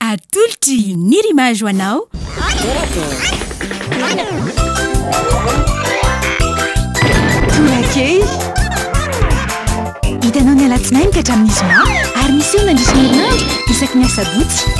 Atolotry ny Rimage ho anao. Torakely. Hitanao ny alatsinainy ka hatramin'ny zoma ary miseho mandritra ny herinandro isaky ny asabotsy.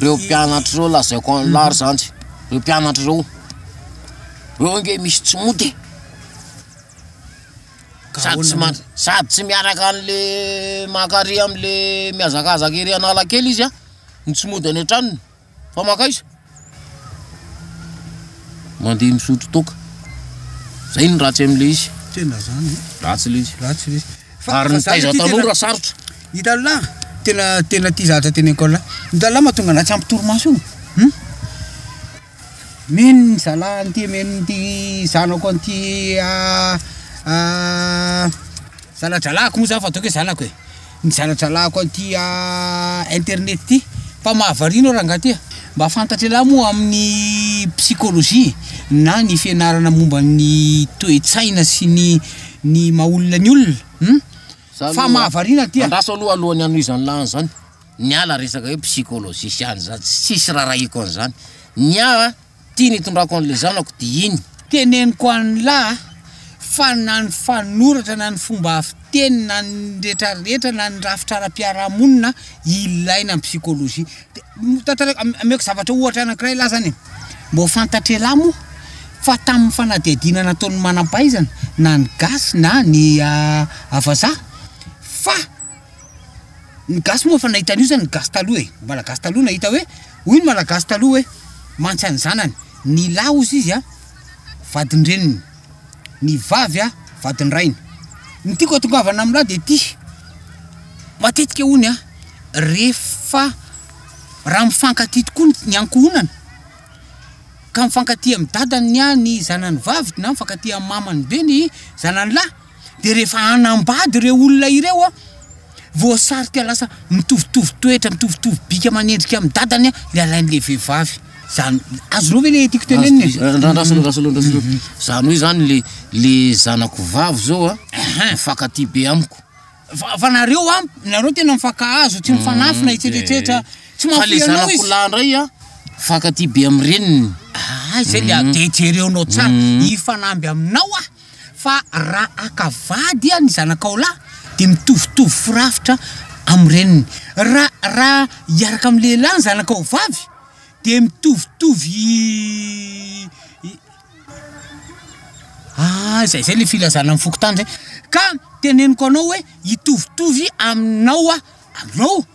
Reo mpianatra reo lazaiko anla ry zandry reo mpianatra reo reo ange misy tsy mody e sady tsy man- sady tsy miaraka anle maka ary amle miazakazaka ery analakely izy a no tsy mody any an-tranony fa makaiza Mandeha misotro toaka. Zay no ratsy amin'ilay izy. Tena zany. Eh. Ratsy ilay izy. Ratsy ilay izy. Fa ary ny taiza taloha raha sarotra. Itallah tena tena tia zatra tena inkolla. Itallah mahatonga anah tsy ampy torimaso io. Hum. Meno ny zalahy an'ity meno an'ity zanako an'ity ah, ah, zaladralahiko moa zany fa ataoko hoe zanako e. Mizaha jalako an'ity internet ity fa mahavariana aho rangahy ty a! Mba fantatry elah moa amin'ny psychologie na ny fianarana momba ny toe-tsaina sy ny ny maha olona ny olona hum? Fa mahavariana ty a! Andraso aloha alohan'ny hanohizan'ny lahany izany, ny ahy la resaka hoe psychologie sy any izany tsisy raharahiako an'izany, ny ahy a! Tiany hitondrako an'ilay zanako dia iny. Teneniko anlah fa na ny fanoratra na ny fomba fiteny na ny rehetra rehetra na ny rafitra ara-piarahamonina ilaina ny psychologie. Tantarako, ameko zavatra ohatra anakiray lah zany e. Mba ho fantatr'elah moa fa tamin'ny fanadihadiana nataon'ny manam-pahaizana na ny gasy na ny vazaha fa. Ny gasy moa efa nahita an'io zany ny gasy taloha e, ny malagasy taloha nahita hoe, hoy ny malagasy taloha hoe, mantsy an'ny zanany, ny lahy hozy izy a, vadin-dreniny, ny vavy a, vadin-drainy. Ny tiako atongavana amin'ny lahy dia ity, matetika hono a, rehefa raha mifankatia tokoa ny ankohonana, ka mifankatia amin'ny dadany ny zanany vavy na mifankatia amin'ny mamany be ny zanany lahy, de rehefa hanambady ireo olona ireo a voasarika lasa mitovitovy toetra mitovitovy bika manendrika amin'ny dadany a le alain'le vehivavy zany azonao ve le tiako tenenina e? Ra- ra- rasolo rasolo rasolo zany hoe zany le le zanako vavy zao a Ahan. mifankatia be amiko fa fa nareo a nareo tena mifankahazo tsy mifanafina etsetretsetra tsy fa le mahafoy anao zanako izy lahy ndray a mifankatia be amin'ny reniny Ah, izay le de jereonao tsara hifanamby aminao aho Fa raha haka vady ian ny zanakao lahy dia mitovitovy firafitra amin'ny reniny. Raha raha hiaraka amin'ny lehilahy ny zanakao vavy dia mitovitovy ah izay izay ilay filazana amin'ny fokontany izay. Ka teneniko anao hoe hitovitovy aminao aho, aminao.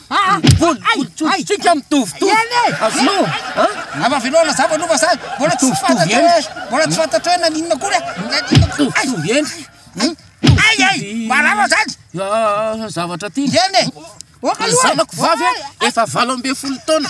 Ah, volo, tsika mitovitovy. Azonao, ha? Navavinao nazava aloha fa zany. Mbola tsy fantatra hoe, mbola tsy fantatra hoe naninona akory. Mitovitovy eny. Ay ay, marava zany. Ah, zavatra ty. Eny. Zanako vavy efa valo ambin'ny folo taona.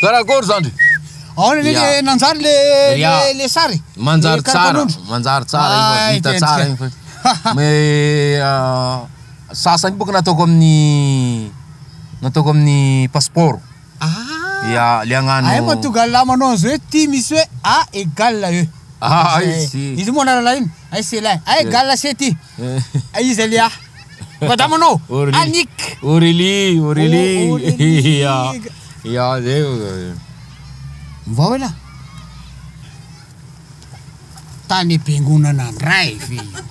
Karakôry zandry? Aona le le nanjary le le le sary? Manjary tsara, manjary tsara iny fa vita tsara iny fa. Mais sasany bôka nataoko amin'ny nataoko amin'ny passeport. Ah! Ya, le agnano. Ay mba tonga la manao an'zao hoe ty misy hoe A égale E. Ah, izy io. Izy io moa anarana iny, ay c'est la, ay égale c'est ty. Aiza leah madama anao? Annick. Aurelie, Aurelie, ya, ya zay vao. Mivao elah. Tany ampiangonana ndray ve io?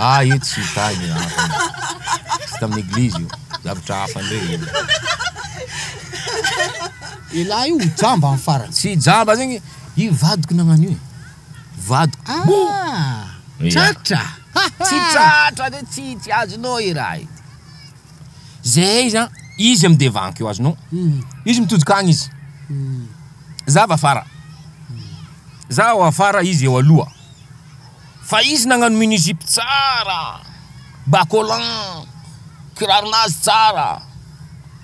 Ah io tsy tany hafa, tsy tamin'ny eglizy io, zavatra hafa ndray io. Elah io ho jamba amin'ny farany. Tsy jamba zegny, io vadiko nagnano io e. vadiko oh! Ah! Tratra! Tsy tratra de tsy tsy azonao iray. Zay izy an, izy am devankeo azonao. Izy mitojoka agny izy. Za avy afara. Za ao afara izy eo aloha. Fa izy nagnano mini jupe tsara, bas collant, kiraronazy tsara.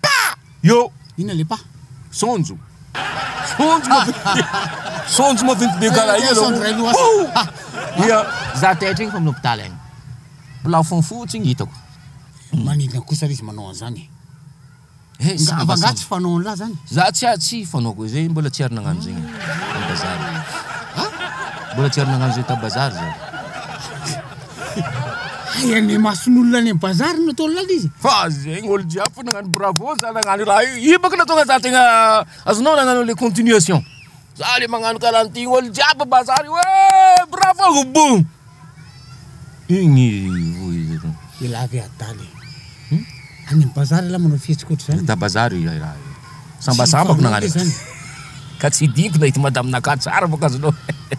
Pah! Yo! Inona le pah? Saonjo. Saonjo maventy. Saonjo maventy be karaha io aloha. Pouh! Ia. Za taitra iny fa amin'ny hopitaly any. Plafond fotsiny hitako. Maninona kosa ary izy manao an'zany e? Nga nga tsy fanao an'lah zany? Za tsy tsy fanaoko izay mbola tsy ary nagnano zegny tam bazary. Mbola tsy ary nagnano zegny tam bazary za. Hay any imason'olona any am bazary no ataonao lay izy. Fa zegny olo jiaby fo nagnano bravo za nagnano raha io, io bôka nahatonga za tegna azonao nagnano le continuation. Za le magnano karaha an'ty olo jiaby bazary io eh bravo oubou! Igny vohizako. Elah ve adala e! Hum? Any am bazary elah manao fihetsika ohatr'izany? Hita bazary io lay raha io. Sambasambako nagnano. Ka tsy diko na ity madaminakahy tsara bôka azonao.